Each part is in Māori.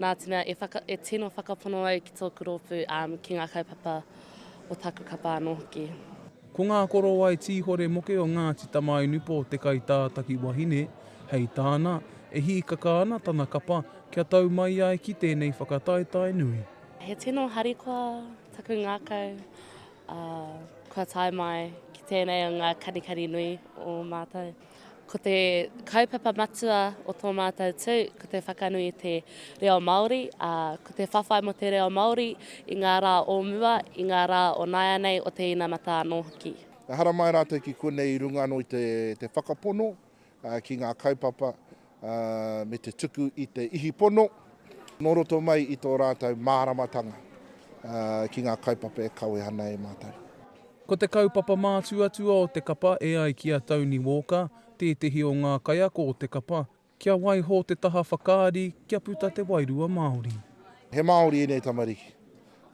Nā te mea e, whaka, e tino whakapono au ki tōku rōpū, ā, um, ki ngā kaupapa o taku kapa anō hoki. Ko ngā korowai tīhore moke o Ngāti Tamainupō te kaitātaki wahine, hei tāna, e hīkaka ana tana kapa kia tau mai ai ki tēnei whakataetae nui. He tino harikoa taku ngākau, ā, kua tae mai ki tēnei o ngā kanikani nui o mātou. Ko te kaupapa matua o tō mātou tū, ko te whakanui i te reo Māori, ā, ko te whawhai mō te reo Māori i ngā rā o mua, i ngā rā o nāianei, o te inamata anō hoki. Ehara mai rātou ki konei i runga anō i te whakapono ki ngā kaupapa ā, me te tuku i te ihi pono nō roto mai i tō rātou māramatanga ki ngā kaupapa e kawe ana e mātou. Ko te kaupapa mātuatua o te kapa e ai ki a Tony Walker, tētehi o ngā kaiako o te kapa, kia waiho te taha whakaari kia puta te wairua Māori. He Māori ēnei tamariki,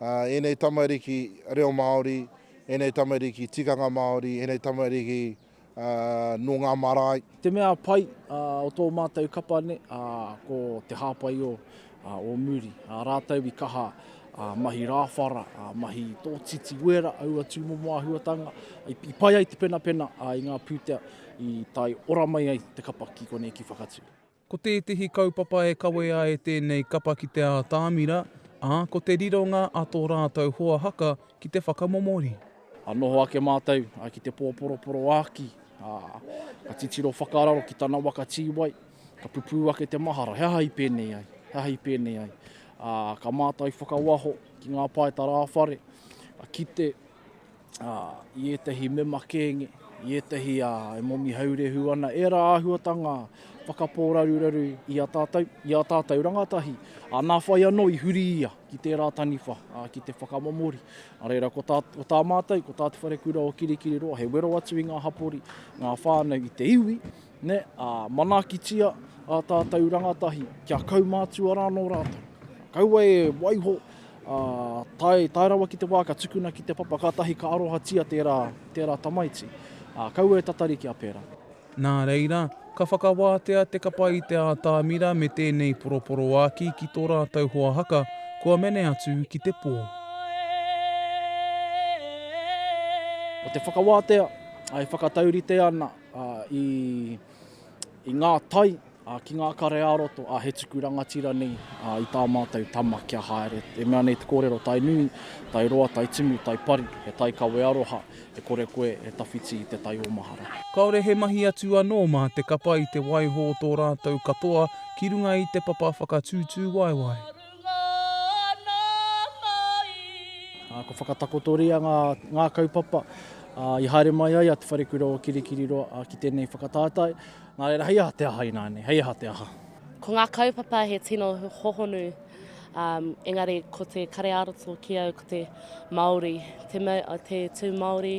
ā, ēnei tamariki reo Māori, ēnei tamariki tikanga Māori, ēnei tamariki. nō ngā marae. Te mea pai o tō mātou kapa nei, ko te hāpai o Muri. Rātou i kaha mahi rāwhara, mahi tōtiti wera, aua tūmomo āhuatanga, i pai ai te penapena i ngā pūtea i tae ora mai ai te kapa ki konei ki Whakatū. Ko tētehi kaupapa e kawe ai e tēnei kapa ki te ātamira, ā, ko te rironga a tō rātou hoa haka ki te whakamomori. Ka noho ake mātou ki te pōporoporo āki, ā, ka titiro whakararo ki tana waka tīwai, ka pupū ake te mahara, he aha i pēnei ai, he aha i pēnei ai. Ā, ka mātai whakawaho ki ngā pae tarāwhare, ka kite, ā, i ētahi mema kēnge, i ētahi, ā, e momi haurehu ana, ērā āhuatanga whakapōraruraru i a tātou, i ā tātou rangatahi, ā, nā whai anō i huri ia ki tērā taniwha, ā, ki te whakamomori. Nā reira, ko tā, ko tā mātou, ko tā Te Wharekura o Kirikiriroa, he wero atu i ngā hapori, ngā whānau i te iwi, Nē, ā, manaakitia ā tātou rangatahi kia kaumātua rānō rātou. Kaua e waiho, ā, tae, tae rawa ki te wā ka tukuna ki te papa kātahi ka arohatia tērā, tērā tamaiti. Ā, kaua e tatari kia pērā. Nā reira, ka whakawātea te kapa i te ātamira me tēnei poroporoāki ki tō rātou hoa haka kua mene atu ki te pō. Ko te whakawātea, ā, e whakataurite ana. i ngā tai, ki ngā kare ā-roto, he tuku rangatira nei i tā mātou tama kia haere. E mea nei te kōrero, tai nui, tai roa, tai tumu, tai pari, he tai kawe aroha, e kore koe e tawhiti i te tai o mahara. Kāore he mahi atu anō mā te kapa i te waiho o tō rātou katoa ki runga i te papa whakatūtūwaewae. Ngā ana mai. Ko whakatakotoria ngā kaupapa i haere mai ai a Te Wharekura o Kirikiriroa ki tēnei whakataetae. Nā reira, hei aha te aha ināianei, hei aha te aha? Ko ngā kaupapa he tino hohonu, engari ko te kare ā-roto ki au ko te Māori, te tū Māori,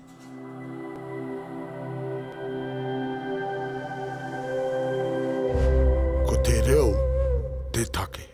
Ko te reo te take.